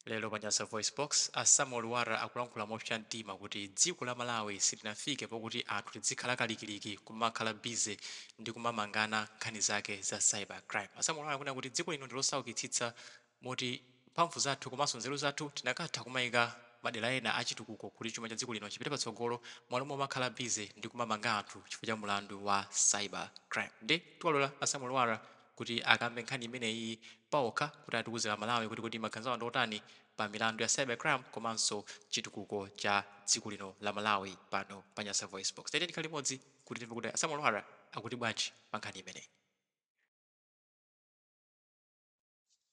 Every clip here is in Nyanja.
Lero pa Nyasa VoiceBox, a Samuel Lwara akulankhula mopsa mtima kuti dziko la Malawi silinafike pokuti anthu tidzikhala kalikiliki kumakhala busy ndi kumamangana nkhani zake za cyber crime. A Samuel Lwara akunena kuti dziko lino ndi losaukitsitsa moti mphamvu zathu komanso nzeru zathu tikanatha kumaika madera ena a chitukuko kuti chuma cha dziko lino chipite patsogolo mmalo momakhala busy ndi kumamanga anthu chifukwa cha mulandu wa cyber crime. Nde tiwalora a Samuel Lwara kuti akambe nkhani imeneyi paokha kuti atiuze a Malawi kuti kodi maganizo awo ndi otani pa milandu ya cyber crime komanso chitukuko cha dziko lino la Malawi pano pa Nyasa VoiceBox. Tatiyeni tikhale limodzi kuti timve kuti a Samuel Lwara akuti bwanji pa nkhani imeneyi.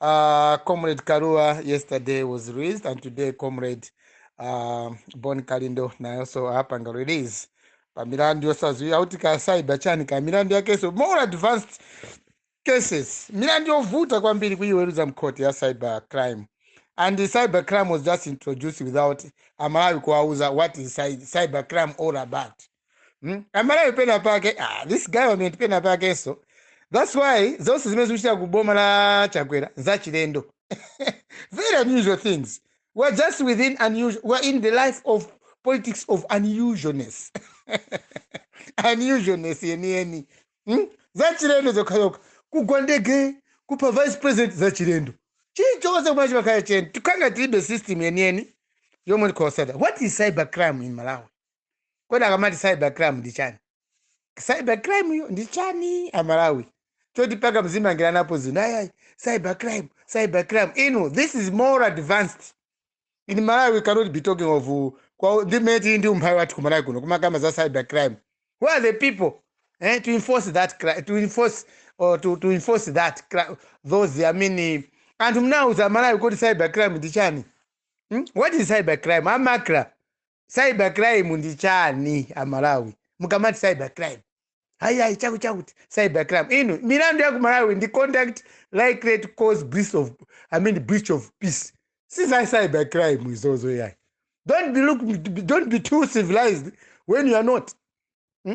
Uh, Comrade Karua yesterday was released, and today Comrade uh, Bon Kalindo naye also apanga release pa milandu yosadziwika kuti ka cyber chani ka milandu yakenso more advanced cases milandu yovuta kwambiri kuyiweruza m'khoti ya cyber crime and the cyber crime was just introduced without amalawi kuwauza what is cy- cyber crime all about Mm? amalawi pena pake ah, this government pena pakenso that's why zonse zimene zikuchitika ku boma la chakwera zachilendo very unusual things we are just within unusual we are in the life of politics of unusualness unusualness yeniyeni mm? zachilendo zokhazokha kugwa ndege kupha vice president zachilendo chilichonse chimene chimakhala cheni tikhala tilibe system yeniyeni yomwe tikhowa sada what is cyber crime in malawi kodi akamati cyber crime ndi chani cyber crime yo ndi chani amalawi choti mpaka muzimangiranapo zinthu ayayi cyber crime cyber crime inu this is more advanced in malawi we cannot be talking of uh, kwa ndi mmene tili ndi umphawi wathu ku malawi kuno kumakamba za cyber crime who are the people eh, to enforce that cri- to enforce or to, to enforce that cri- those i mean eh, anthu mnauza malawi kuti cyber crime ndi chani hmm? what is cyber crime amakra cyber crime ndi chani amalawi mukamati cyber crime ayiayi chakuti chakuti cyber crime inu milandu ya ku malawi ndi conduct likely to cause breach of, I mean, breach of peace si za cyber crime izozo yayi don't be, look, don't be too civilized when you are not Hmm?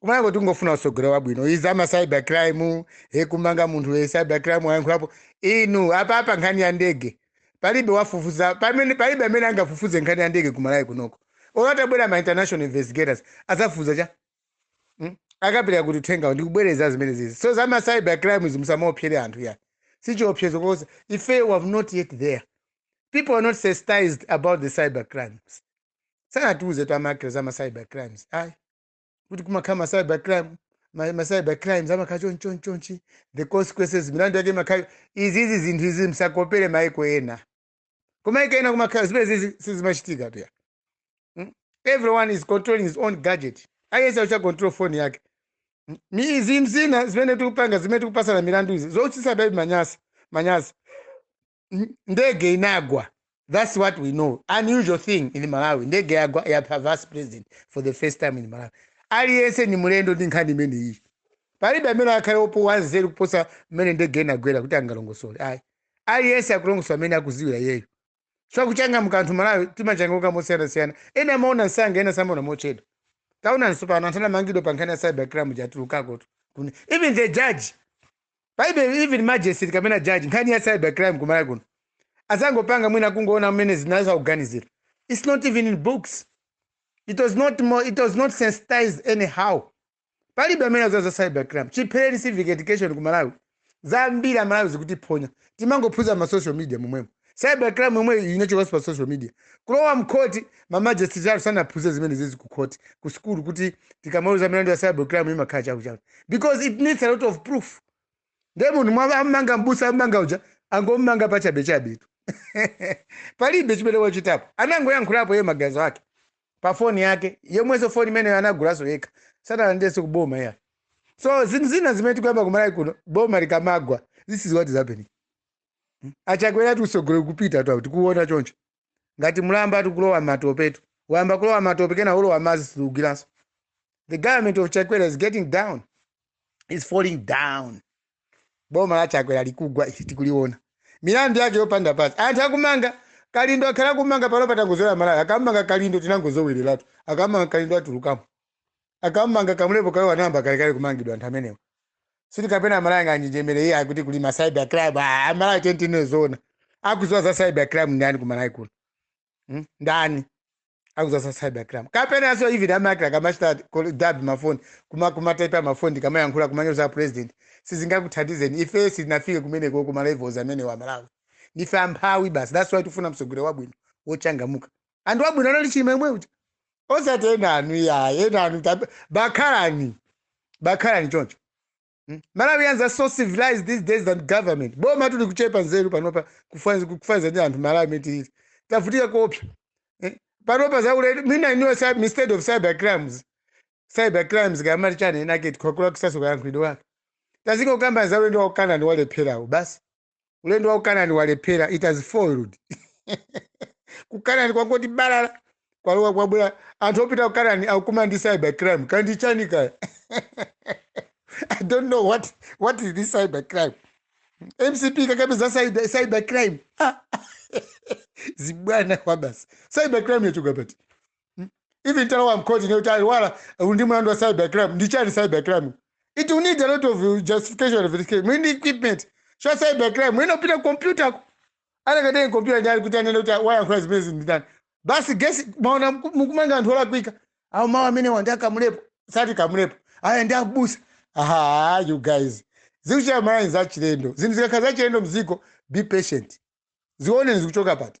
kuMalawi kuno tingofuna usogolero wabwino izi zama cyber crime ekumanga munthu we cyber crime wayankhulapo inu apa apa nkhani ya ndege palibe wafufuza pamene palibe amene angafufuze nkhani ya ndege kuMalawi kunoko olo atabwera ma international investigators azafufuza chani mm? akapereka kuti uthengawo ndikubwereza zimene zizi so zama cyber crime zi musamaopseze anthu ya si chiopsezo because ife we have not yet there people are not sensitized about the cyber crimes sanatiuze twamakira zama cyber crimes ayi kuti kumakhala ma cyber crime ma, ma cyber crimes amakhala chonchichonchi the consequences milandu yake imakhala izizi zinthu izi msakopere maiko ena kumaiko ena kumakhala zimene zizi sizimachitika ayi mm? everyone is controlling his own gadget aliyense akuchita control phone yake Mm? ni izi nzina zimene tikupanga zimene tikupasana milandu izi zochitisa baby manyasa manyasa n- ndege inagwa that's what we know unusual thing in malawi ndege yagwa yapha vice president for the first time in malawi aliyense ni mlendo ndi nkhani imeneyi palibe amene akhale opo wanzeru kuposa mmene ndege inagwera kuti angalongosole ayi aliyense akulongosola mmene akuziwira iyeyo so kuchangamuka anthu malawi timachangamuka mosiyanasiyana ena amaona nsanga ena samaona mochedwa taona nsopano anthu anamangidwa pa nkhani ya cyber crime watulukakotu even the judge palibe even magistrate kapena judge nkhani ya cyber crime kumalawi kuno azangopanga mwina kungoona mmene anzawo akuganizira its not even in books it was not more, it was not sensitized anyhow palibe amene amaziwa za cyber crime chiphereni civic education ku malawi zambiri amalawi zikutiphonya timangophunzira ma social media momwemo cyber crime yomwe inachokanso pa social media kulowa mkhoti mamajesiti athu sanaphunzire zimene zizi ku khoti ku sukulu kuti tikamaweruza milandu ya cyber crime imakhala chakuchaku because it needs a lot of proof ndiye munthu ammanga mbusa ammanga uja angommanga pachabechabe tu palibe chimene wachitapo anangoyankhulapo iye maganizo ake pa foni yake yomwenso foni imeneyo anagulaso yekha sanalandirenso kuboma ayi so zinthu zina zimene tikuyamba kumalawi kuno boma likamagwa this is what is happening Hmm? achakwera utsogoleri kupita tu tikuona choncho ngati mulamba ati kulowa matopetu wayamba kulowa matope kena ulowa madzi sitigwiranso the government of chakwera is getting down is falling down boma la chakwera likugwa ife tikuliona milandu yake yopanda pasi anthu akumanga kalindo akhala akumanga pano pa tangozolowera malawi akamanga kalindo tinangozolowereratu akamanga kalindo atulukamo akamanga kamulepo kalua anayamba kalekale kumangidwa anthu amenewa siti kapena amalawi anganjenjemere iye akuti kuli ma cyber crime Ah, amalawi tinene zoona akuziwa za cyber crime ndani kumalawi kuno Hmm? ndani akuziwa za cyber crime kapena aso even makana kumachita kol- dab mafoni kuma kumataipa mafoni kumayankhula kumanyoza president sizingakuthandizeni ife sitinafike kumeneko kuma levels amenewa amalawi ndife amphawi basi that's why tifuna mtsogoleri wabwino wochangamuka anthu abwino anali chilima yemwe uja osati ena anu ayi ena anu tab- bakhalani bakhalani choncho Mm. malawians are so civilized these days than government boma tu likuchepa nzeru panopa kufanzi- kufanizira ndi anthu malawi mitiri tavutika koopsa Eh, panopa zaulere mina iniwo cy- instead of cyber crimes cyber crimes kamati chani inake tikhakula kusaso kayankhulidwe wake tazingokamba zaulendo wakukanani walepherawo basi ulendo wa kukanani walephera it has failed kukanani kwangoti balala kwalowa kwabwera anthu opita kukanani akukumana ndi cyber crime kandi chani kaya i don't know what, what is this cyber crime mcp kakapeza cyber, cyber crime Ah, zibwana kwawo basi cyber crime yachoka pati Hmm? Even atalowa mkhoti ndikuti alowa uli ndi mlandu wa cyber crime ndi chani cyber crime? It will need a lot of uh, justification of it. Muli ndi equipments za cyber crime mwina kupita computer ku anakadaya computer ndi ali kuti anene kuti wayankhula zimene zinthu ndani. Basi gesi maona mku- mukumanga anthu olakwika. Awo mawu amenewa ndi a Kamlepo osati Kamlepo. Aya ndi abusa. Aha you guys. Zikuchita Malawi zachilendo. Zinthu zikakhala zachilendo mziko be patient. Zione zikuchoka pati.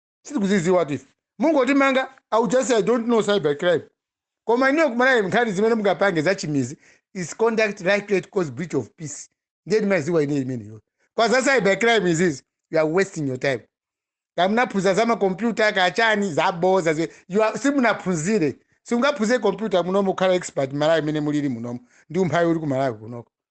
sitikuziziwatu ife mungotimanga I'll just say i don't know cyber crime koma ineyo kumalawi nkhani zimene mungapange zachimizi is conduct likely to cause breach of peace ndiye ndimaziwa ine imeneyo koma za cyber crime izizi you are wasting your time kamunaphunzira za makompyuta kanchani zaboza zi- you are- simunaphunzire simungaphunzire kompyuta munomo kukhala expert malawi mmene mulili munomo ndi umphawi uli ku malawi kunoko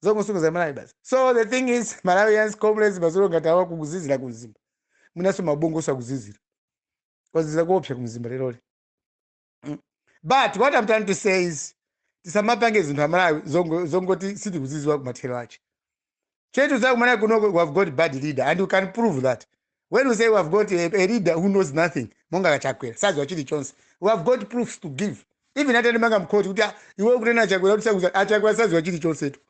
zongosokoneza malawi basi so the thing is malawians comrades madzulo ngati awa kukuzizira ku mzimba mwinanso mabongo akuzizira kwazizira kuopsa ku mzimba leroli Mm. but what i'm trying to say is tisamapange zinthu amalawi zongo- zongoti sitikuziziwa kumathero ache chimene tazakumana kunoko we have got bad leader and you can prove that when we say we have got a, a leader who knows nothing monga kwa chakwera sadziwa chilichonse we have got proofs to give even atanimanga mkhoti kuti "Ah, iwe ukunena achakwera kuti sakuza achakwera sadziwa chilichonsetu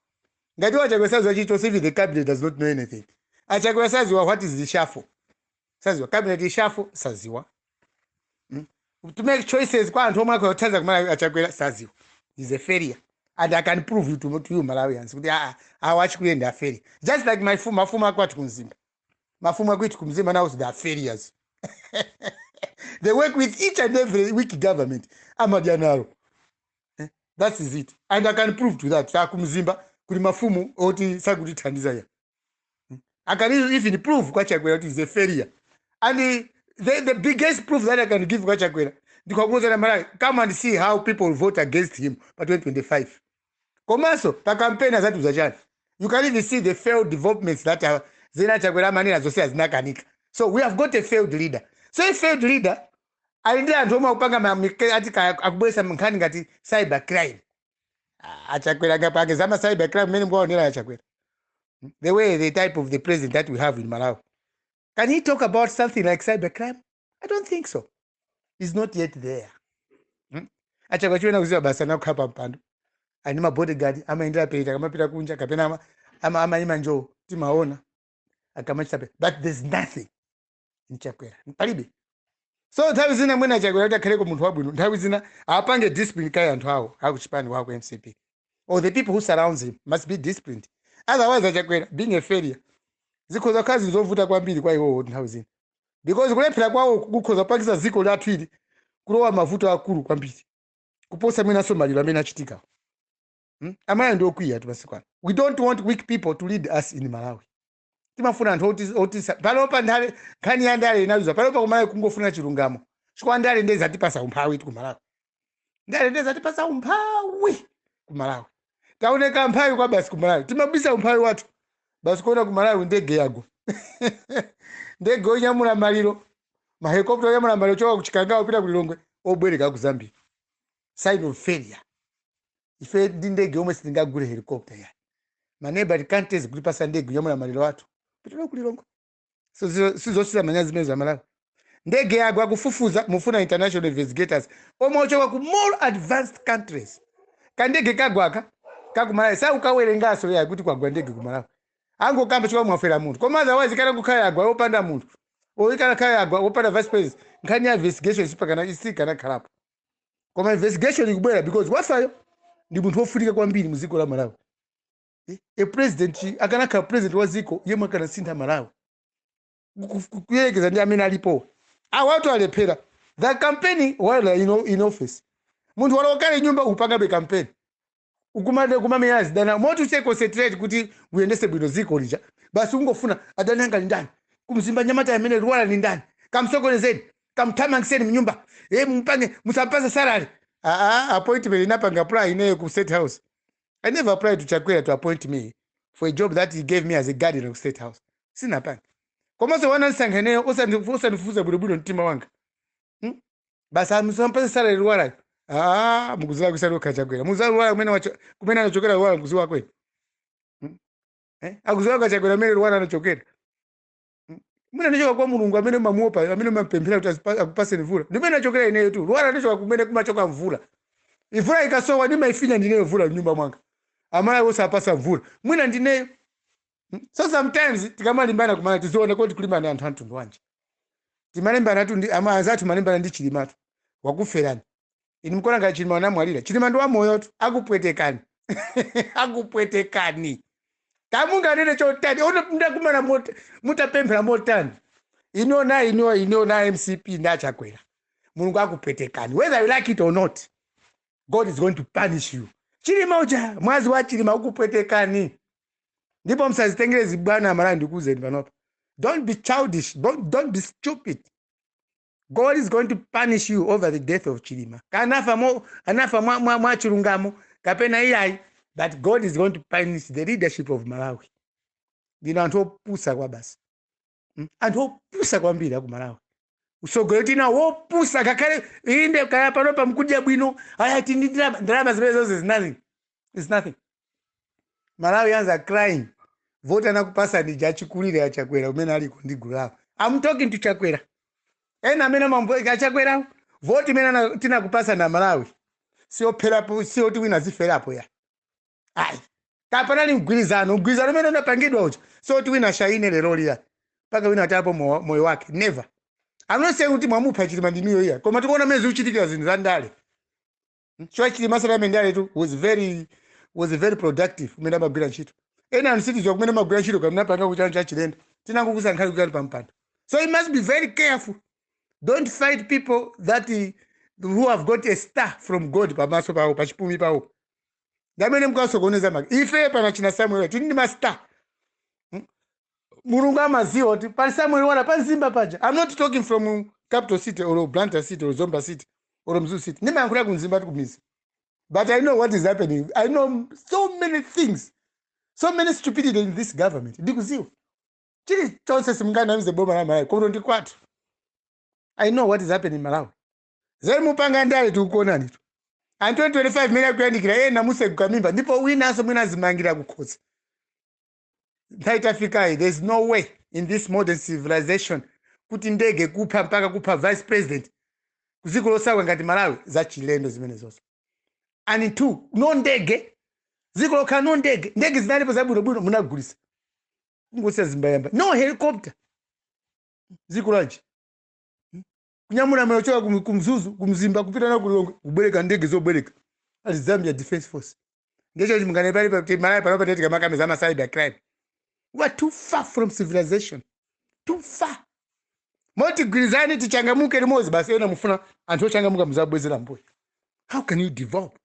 ngati iwe achakwera sadziwa chilichonse even the cabinet does not know anything achakwera sadziwa what is reshuffle sadziwa cabinet reshuffle sadziwa to make choices kwa anthu omwe akuthandiza kumalawi achakwera sadziwa is a failure and i can prove it to, to you malawians kuti aa awa achikuyenda a failure just like my fumu mafumu akwathu kumzimba mafumu akwathu kumzimba nawo they are failures they work with each and every weak government amadya nalo Eh, that is it and i can prove to that akumzimba kuli mafumu oti sakutithandiza ya i can even prove kwa chakwera kuti is a failure and eh, the, the biggest proof that i can give kwa chakwera ndikuwauza amalawi come and see how people vote against him pa 2025 komanso pa kampeni azatiuza chani you can even see the failed developments that are there zimene chakwera amanena zonse zinakanika so we have got a failed leader so a failed leader ali ndi anthu omwe akupanga ma- mike- ati ka- akubweretsa nkhani ngati cyber crime Ah, achakwera angapange zama cyber crime mmene mumaonera achakwera the way the type of the president that we have in malawi can he talk about something like cyber crime i don't think so he's not yet there hmm? achakwera chimene akuziwa basi ndi kukhala pa mpando ali ndi mabodyguard amayendera jeti akamapita kunja kapena ama- ama- amayima njowo timaona akamachita pe but there's nothing in chakwera palibe so nthawi zina mwina chakwera kuti akhaleko munthu wabwino nthawi zina apange discipline kaya anthu awo akuchipani kwawo mcp or the people who surround him must be disciplined otherwise achakwera being a failure zikhoza kukhala zinthu zovuta kwambiri kwa iwowo nthawi zina because kulephera kwawoku kukhoza kupangitsa dziko lathu ili kulowa mavuto akulu kwambiri kuposa mwinanso maliro amene achitika hmm? amalawi ndi okwiya tu masiku ano we don't want weak people to lead us in malawi timafuna anthu oti- otisa panopa ndale nkhani ya ndale inaluza panopa kumalawi kungofuna chilungamo chifukwa ndale ndiye zatipasa umphawi ife kumalawi ndale ndiye zatipasa umphawi ku malawi taoneka umphawi kwa basi ku malawi timabisa umphawi wathu basi kuona ku malawi ndege yagwa ndege onyamula maliro mahelikopta onyamula maliro choka kuchikangawa kupita ku lilongwe obwereka ku zambia sign of failure ife ndi ndege yomwe sitingagule helikopta ya maneba akuchita kutipasa ndege onyamula maliro athu kupita nawo ku lilongwe Sizo- sizochitisa manyazi zimenezo amalawi ndege yagwa akufufuza mufuna international investigators omwe ochoka ku more advanced countries kandege kagwaka kakumalawi sakukawerenganso yayi kuti kwagwa ndege kumalawi angokamba chifukwa mwafera munthu koma otherwise kanakakhala yagwa opanda munthu or ikanakhala yagwa opanda vice president nkhani ya investigation sipakana isikanakhalapo koma investigation ikubwera because wafayo ndi munthu wofunika kwambiri mu dziko la malawi Eh, a president akanakhala president wa dziko yemwe akanasintha malawi Ku- ku- kuyerekeza ndi amene alipowa awatu alephera the campaign while in, o- in office munthu walowa kale nyumba ukupangabe campaign ukumangokumamenya azidani moti usiye concentrate kuti uyendese bwino dziko lija basi ungofuna adani anga ni ndani kumzimba mnyamata amene lwara ni ndani kamsokonezeni kamthamangiseni mnyumba e mupange musampase salary aa appointment sinapange apply ineyo ku state house i never applied to chakwera to appoint me for a job that he gave me as a guardian of state house sinapange komanso wanandisankha ineyo osandi- osandifufuza bwinobwino mtima wanga Hmm? basi musampase salary lwarayo aa mukuziwa kusali okha chakwera mukuziwa lwara kumene wacho- kumene anachokera lwara mukuziwa kwenu Hmm? Eh? akuziwa achakwera kumene lwara anachokera mwina ndichoka kwa mulungu amene mumamuopa amene mumapemphera kuti azipa- akupaseni mvula ndi kumene ndachokera ineyo tu lwara ndichoka kumene kumachoka mvula mvula ikasowa ndimaifinya ndineyo mvula mnyumba mwanga amalawi onse apasa mvula mwina ndineyo so sometimes tikamalimbana kumaona tiziona kuti tikulimbana ndi anthu amtundu wanji timalimbana tu ndi ama anzathu mumalimbana ndi chilimatu wakuferani inu mkuona ngati chilima anamwalira chilima ndi wamoyotu akupwetekani akupwetekani kaya munganene chotani olo ndakumana mot- mutapemphera motani inu na inu inu na mcp ndachakwera mulungu akupwetekani whether you like it or not god is going to punish you chilima uja mwazi wa chilima ukupwetekani ndipo msazitengere zibwana amalawi ndikuuzeni panopa don't be childish don't, don't be stupid god is going to punish you over the death of chilima kaya anafa mo anafa mwa, mwa, mwa chilungamo kapena iyayi but god is going to punish the leadership of malawi ndinu anthu opusa kwabasi Mm, anthu opusa kwambiri aku malawi usogoleri tina wopusa ngakhale inde kaya panopa mkudya bwino ayati ndi ndalama ndalama zimene zonse zinali is nothing malawians are crying voti anakupasani ija achikulire achakwera kumene aliko ndi gulu lawo i'm talking to chakwera ena amene amambo- achakwerawo voti imene ana- tinakupasani amalawi siyopherapo siyoti wina aziferapo iyayi kaya panali mgwirizano mgwirizano umene unapangidwa uja siyoti wina ashaine lero liya mpaka wina atayapo mo- moyo wake never i'm not saying kuti mwamupha chilima ndinuyo iya koma tikuona mene zikuchitikira zinthu za ndale nchifukwa chilima sanali mndaletu was very was very productive kumene amagwira ntchito ena anthu sitiziwa kumene amagwira ntchito kamene apanga kuchana cha chilendo tinangokusankhani kukuyikani pa mpando so you must be very careful don't fight people that eh, who have got a star from god pamaso pawo pachipumi pawo ndamene mkasokoneza maka ife pano achina samuel tili ndi mastar mulungu amaziwa kuti pali samuel lwara pa mzimba paja i'm not talking from capital city or blantyre city or zomba city or mzuzu city ndimayankhula ku mzimbatu kumizi but i know what is happening i know so many things so many stupidity in this government ndikuziwa chili chonse simunganamize boma la malawi kuno ndi kwathu i know what is happening in malawi zeri mupanga ndale tikukuonani tu and 2025 mene ikuyandikira ena museguka m'mimba ndipo winanso mwina azimangira kukhosi nthawi tafikayi there is no way in this modern civilization kuti ndege kupha mpaka kupha vice president kuziko losauka ngati malawi zachilendo zimenezonso and two no ndege ziko lokhala no ndege ndege zinalipo zabwinobwino munagulisa kungosiya zimbayamba no helicopter ziko lanji kunyamula amene kuchoka ku ku mzuzu ku mzimba kupita nawo ku lilongwe kubwereka ndege zobwereka ali zambia defense force ngecho chimungane pali pa malawi pano patete kamakamiza ama cyber crime we are too far from civilization too far moti tigwirizane tichangamuke limodzi basi ena mufuna anthu ochangamuka muzabwezera mbuyo how can you develop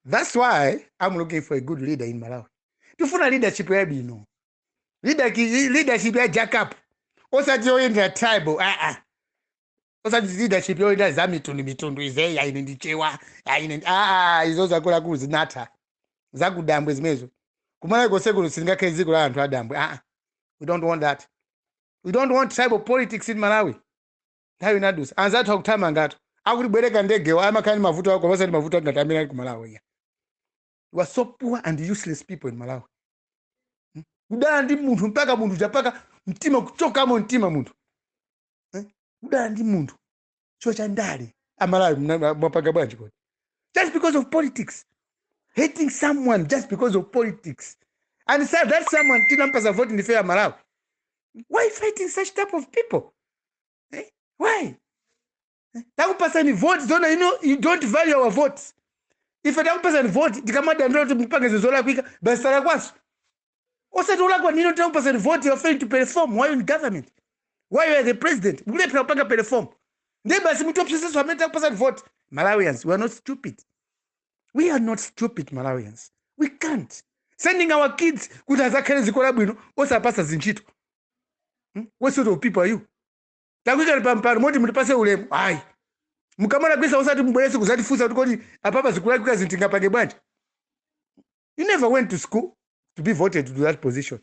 that's why i'm looking for a good leader in malawi tifuna leadership yabwino Leadership- leadership ya jack up osati yoyendera tribal aa osati leadership yoyendera za mitundu mitundu izeyi aine ndi Mchewa aine ndi- aa izo zakalekale zinatha zakudambwe zimenezo kumalawi konsekuno silingakhale dziko la anthu adambwe aa we don't want that we don't want tribal politics in malawi nthawi inadusa anzathu akuthamangatu akutibwereka ndegewo amakhala ndi mavuto awo osati mavuto ngati amene ali kumalawi ya we are so poor and useless people in malawi Hmm? kudana ndi munthu mpaka munthu chapaka mtima kuchokamo mtima munthu Eh? kudana ndi munthu chifukwa cha ndale amalawi mna- mwapanga bwanji kodi just because of politics hating someone just because of politics and that someone tinampasa vote ndife amalawi why fighting such type of people eh? why takupasani vote zona ino you don't value our votes ife takupasani vote tikamadandira kuti mupange zinthu zolakwika basi talakwaso osati ulakwa nino takupasani vote you are failing to perform while in government while you are the president mukulephera kupanga perform ndiye basi mutopseseso amene takupasani vote malawians we are not stupid we are not stupid malawians we can't sending our kids kuti azakhale ziko labwino osapasa zintchito hmm? what sort of people are you takuikani pa mpando moti mutipase ulemu ayi mukamalakwisa osati mubwerenso kuzatifunsa kuti kodi apapa zikulakwika zinthu tingapange bwanji you never went to school to be voted to that position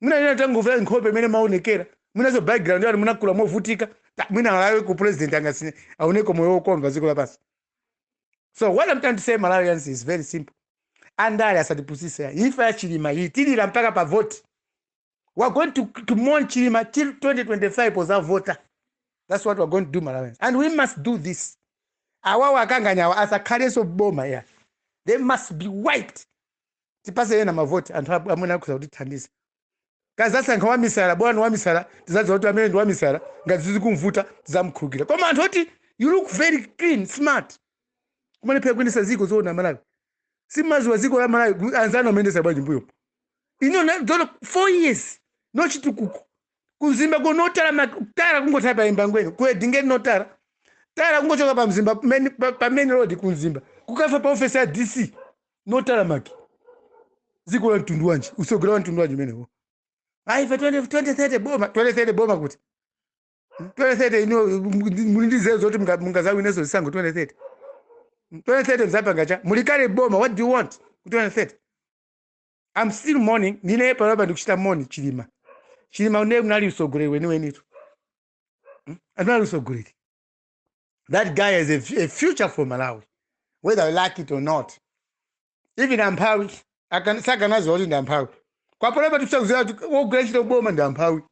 munanena tangomvera nkhope mmene maonekera munazo background yanu munakula movutika Ta- mwina alaweko u president angasinthe aoneko moyo wokomva ziko lapansi so what i'm trying to say malawians is very simple andale asatipusise ifa ya chilima itilira mpaka pa vote we are going to, to mourn chilima till 2025 pozavota that's what we are going to do malawians and we must do this awawa akanganyawa asakhalenso boma ya they must be wiped tipase ena mavoti anthu ab- amene akhuza kutithandiza tikazasankha wamisala bwana wamisala tizadziwa kuti amene ndi wamisala ngati zizikumvuta tizamkhulukira koma anthu oti you look very clean smart kumalephera kuyendesa ziko zoona malawi simaliziwa ziko la malawi anzanu amene sabwerera mbuyo ino na- dzona four years no chitukuko ku Mzimba ko no tara ma- tara kungotaya pa Embangweni ku Edingeni no tara tara kungochoka pa mzimba main- pa pa main road ku Mzimba kukafika pa ofesi ya dc no tara maki dziko la mtundu wanji usogoleri wa mtundu wanji umenewo ayi pa 20 2030 boma 2030 boma kuti 2030 ino muli ndi zeru zoti munga- mungazawinenso zisankho 2030 2030 mzapanga chani muli kale boma what do you want ku 2030 I'm still mourning ndine panopa ndikuchita mourn chilima chilima uja anali msogoleri weniwenitu Hmm? anali msogoleri that guy has a, f- a future for malawi whether you like it or not even amphawi akan- sakanaziwa kuti ndi amphawi kwapanopa tikusakuzira kuti wogwira ntchito boma ndi amphawi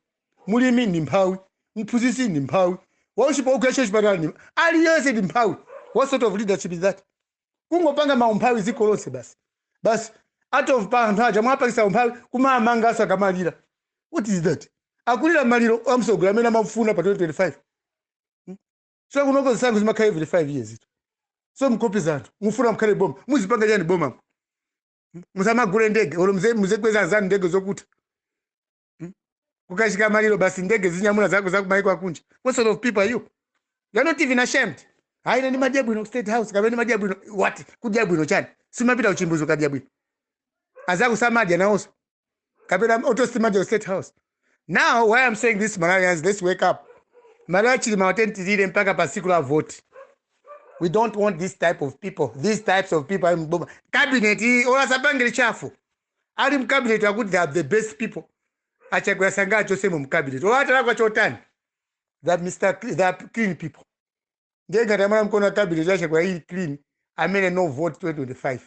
mulimi ndi mphawi mphunzitsi ndi mphawi worse wogwira ntchito chipatala ndi aliyense ndi mphawi what sort of leadership is that kungopanga maumphawi dziko lonse basi basi out of pa anthu aja mwapangitsa umphawi kumamangaso akamalira what is that akulira maliro amtsogoleri amene amafuna pa 2025 Hmm? so kunoko zisankho zimakhala every 5 years ito so mkopi zanthu mufuna mkhale boma muzipanga chani boma musamagule ndege olo muzi- muzikweza anzanu ndege zokutha Hmm? kukachitika maliro basi ndege zinyamula zako za kumaiko akunja what sort of people are you you are not even ashamed hayi ine ndimadya bwino ku state house kapena ndimadya bwino what kudya bwino chani simupita kuchimbudzi ukadya bwino azaku samadya nawonso kapena atosimadya ku state house now why i'm saying this malawians let's wake up malawi chilima watentirire mpaka pa siku la voti we don't want this type of people these types of people ali mboma cabinet iyi olo asapange reshuffle Ali mu cabinet akuti they are the best people. A Chakwera sangachosemo mu cabinet. Olo atalakwa chotani? They are Mr. Cl- They are clean people. Ndiye ngati amalawi mukuona cabinet ya Chakwera ili clean amene no vote 2025.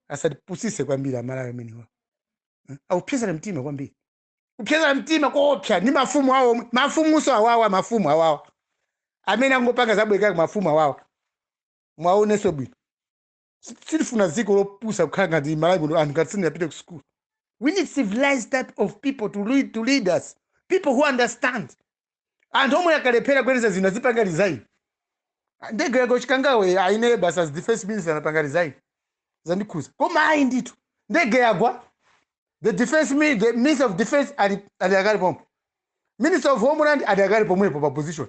Asatipusise kwambiri amalawi amenewa. Akupsetsana mtima kwambiri. Kupsetsana mtima koopsa ndi mafumu awo, mafumunso awawa, mafumu awawa. Amene angopanga zabwekabweka mafumu awawa. Muwaonenso bwino. Si- sitifuna dziko lopusa kukhala ngati malawi kuno anthu ngati sanapite ku school we need civilized type of people to lead, to lead us people who understand anthu omwe akalephera kuyendetsa zinthu azipanga resign ndege yagwa ku chikangawa ayi ine basi as defense minister ndapanga resign zandikhuza koma ayi ndithu ndege yagwa the defense mi- the minister of defense ali ali akali pompo minister of homeland ali akali pomwepo pa position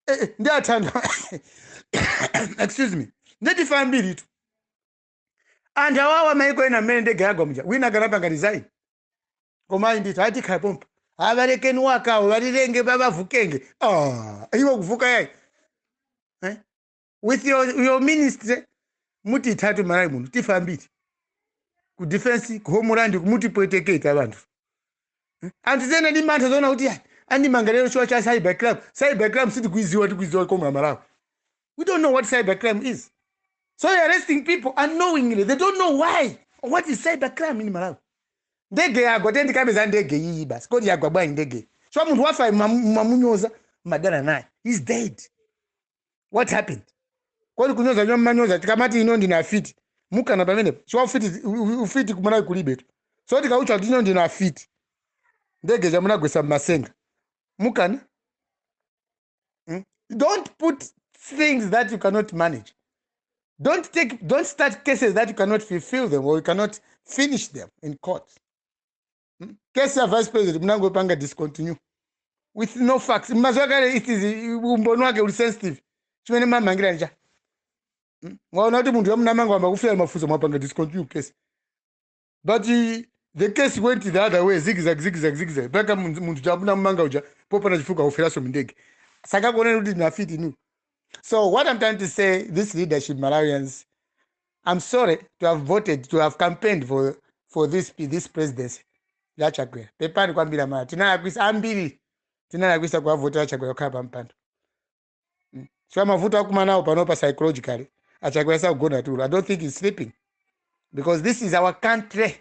Eh, eh, ndithudi excuse me nditu tifa ambiritu ndi anthu awawa maiko ena mmene ndege yagwa muja wina akanapanga resign koma ayi ndithu atokhala pompo balekeni bakavu balilenge babavukenge Ah, iwo kuvuka yayi Eh? with your, your ministry mutithatu malawi muno tifa ambiri ku defense ku homeland mukutipwetekatu anthu anthu tsono ali ndi mantha zoona kuti "Ah, andimanga lero chifukwa cha cyber crime cyber crime sitikuiziwa sitikuiziwa nkomwe amalawi we don't know what cyber crime is so you're arresting people unknowingly they don't know why or what is cyber crime in malawi ndege yagwa tizikamba za ndege iyi basi kodi yagwa bwanji ndege chifukwa munthu wafa mumamunyoza mumadana naye he's dead what happened kodi kunyoza komwe mumanyoza tikamati inu ndinu afiti mukana pamenepo chifukwa ufiti u- ufiti kumalawi kulibetu so tikakutchani kuti inu ndinu afiti ndege ija munagwesa mmatsenga mukana mm? don't put things that you cannot manage don't take don't start cases that you cannot fulfill them or you cannot finish them in court Hmm? case ya vice president munangopanga discontinue with no facts mumaziwa kale it is umboni wake uli sensitive chimene mumamangira ncha Hmm? mwaona kuti munthu uja munamanga wayamba kufera mafunso mwapanga discontinue case but uh, the case went the other way zigzag zigzag zigzag mpaka munthu munthu uja munamanga uja popanda chifukwa waferaso mndege sakakuoneni kuti ndinu afiti inu So what I'm trying to say, this leadership Malawians, I'm sorry to have voted, to have campaigned for, for this, this presidency. ya chakwera pepani kwambiri amalawi tinalakwisa ambiri tinalakwisa kuwavotera chakwera kukhala pa mpando Mm. so mavuto akumanawo panopa psychologically achakwera sakugona tulo i don't think he's sleeping because this is our country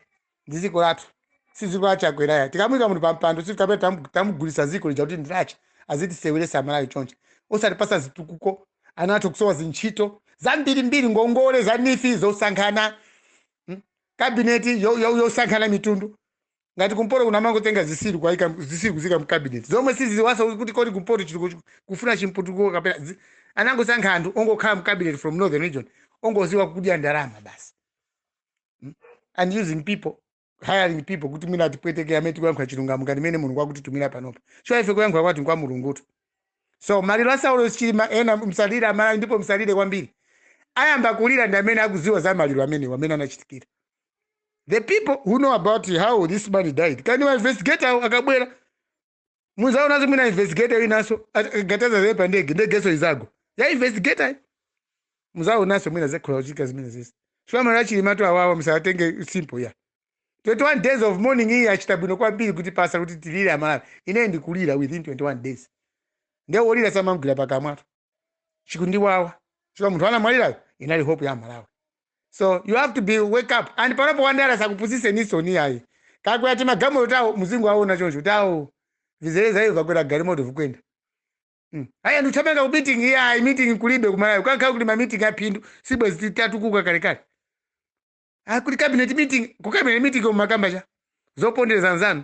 ndi ziko lathu si ziko la chakwera ya tikamuika munthu pampando sikuti kapena tamu- tamugulisa ziko lija kuti ndi lache azitiseweresa amalawi choncho osatipasa zitukuko ana athu kusowa zintchito zambirimbiri ngongole za NEEF zosankhana mm, kabineti yo- yo- yosankhana mitundu ngati kumpoto kuno amangotenga zisiru kuwaika zisiru kuziika mkabineti zomwe siziziwaso kuti kodi kumpoto chiri kuch- kufuna chimputuko kapena zi- anangosankha anthu ongokhala mkabineti from northern region ongoziwa kudya ndalama basi mm, and using people hiring people kuti mwina atipweteke amene tikuyankhula chilungamo ngati mene mulungu akutitumira panopa chifukwa ife kuyankhula kwathu nkwa mulungutu so maliro a saulos chilima ena msalire amalawi ndipo msalire kwambiri ayamba kulira ndi amene akuziwa za maliro amenewa mmene anachitikira the people who know about how this man died kani ma investigator akabwera muzaonanso mwina investigator winanso gataza zile pa ndege ndegenso izagwa ya investigator yi. muzaonanso mwina zikhoza kuchitika zimenezi chifukwa maliro achilimatu awawa musatenge simple ya 21 days of mourning iyi achita bwino kwambiri kutipasa kuti tilire amalawi ine ndikulira within 21 days nde wolira samamgwira pakamwatu chikundiwawa chifukwa munthu anamwalirayo inali hope ya malawi so you have to be wake up and panopa andale asakupusiseninso ayi akakwera timagalimoto tawo muzingowaona choncho tawo vizeleza iyo akakwera galimoto vikwenda Mm. aya ndithamanga ku meeting iya ayi meeting kulibe kumalawi kukanakhala kuti ma meeting aphindu sibwezi titatukuka kalekale akuti cabinet meeting ku cabinet meeting mumakamba chani zopondereza anzanu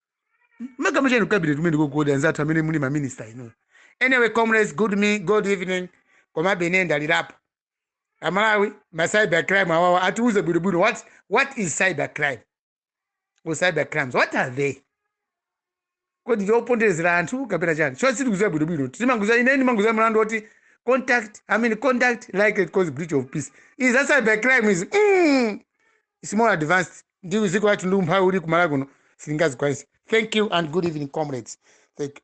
mumakamba chani ku cabinet kumeneko kodi anzathu amene muli maminista inu anyway comrades good, me, good evening komabe ine ndalirapo amalawi ma cyber crime awawa atiuze bwinobwino what, what is cyber crime or cyber crimes what are they kodi ndi oponderezera anthu kapena chani chifukwa sitikuziwa bwinobwino timangoziwa ine ndimangoziwa mlandu woti conduct i mean conduct likely to cause breach of peace izi za cyber crime izi mm, it's more advanced ndi mziko lathu ndi umphawi uli kumalawi kuno sitingazikwanise thank you and good evening comrades thank you.